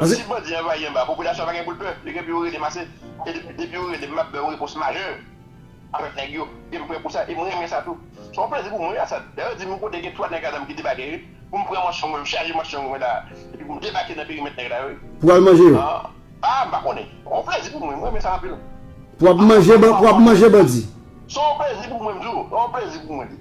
Si bandi anvayi anba, popilasyon an pa gen pou l pè, li gen pou yo rele m ase. E depi yo rele m, m ap ba yo repons majè avèk nèg yo, e m prè pou sa, e m renmen sa tou. Se yon plezi pou mwen wi Asad. Dayè yo di m kote gen 3 nèg ladan m ki debake wi, pou m pran manchon mwen, m chaje manchon mwen la a, epi pou m debake nan perimèt nèg la yo wi. Pou w al manje yo? A, m pa konnen. Se yon plezi pou mwen, m renmen sa anpil. Pou w ap manje bandi? Se yon plezi pou mwen m di w, se yon plezi pou mwen li.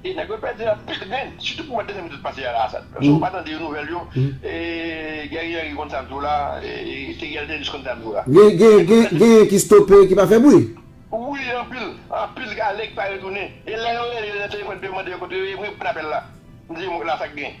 E nèg yo pèdi anpil grenn, sitou pou mwa desanm yo tout pase a la Asad. Paske ou pa tande yo nouvèl yo, e Guerrier Henry konn sa ap di w la, e Theriel Thénus konn sa ap di w la. Genyen ki stope, ki pa fè bri? Wi anpil, anpil k ale, k pa retounen. E lè yo rele yo nan telefòn pou yo mande yo kote yo ye, m reponn apèl la. M di yo m wè la sa k gen.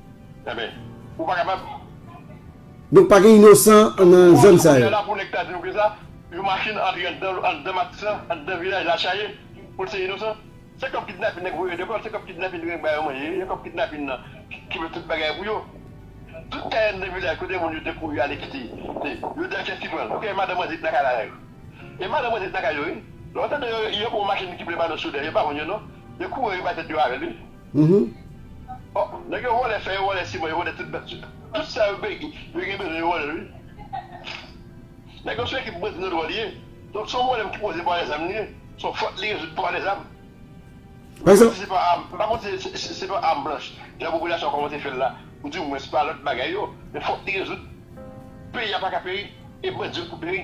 Enben, ou pa kapab. Donk pa gen inosan nan zòn sa yo. Kounye a la pou nèg ta di nou ke sa, yon machin antre anndan anndan matisan, anndan vilaj la chaje, pou l se inosan? Se kòb kidnapin nèg voye lekòl, se kòb kidnapin nèg ba yo manje, se kòb kidnapin nan ki fè tout bagay pou yo. Tout kay anndan vilaj kote moun yo te kouri ale kite, se yo di a kiyès ki pran l? Ok, madan manje ki nan kay la la yo. E madan manje ki nan kay yo wi. Lè yo tande yo gen yon machin ki vle ba nou sou lè, yo pa konn yo non. Yo kouri yo bay tèt yo avè l wi. Bon nèg yo vòlè fè yo vòlè siman yo vòlè tout bèt yo tout sa yo bege yo gen bezwen yo vòlè l wi nèg yo son ekip bandi nan dwòl ye donk son pwoblèm ki poze pou alèzam li ye son fòt li rezoud pou alèzam mwen pa di se pa àm m pa konsidere se se pa àm blanch jan popilasyon an kòmanse fè l la ou di mwens pa lòt bagay yo men fòt li rezoud peyi a paka peri e bandi yo pou peri.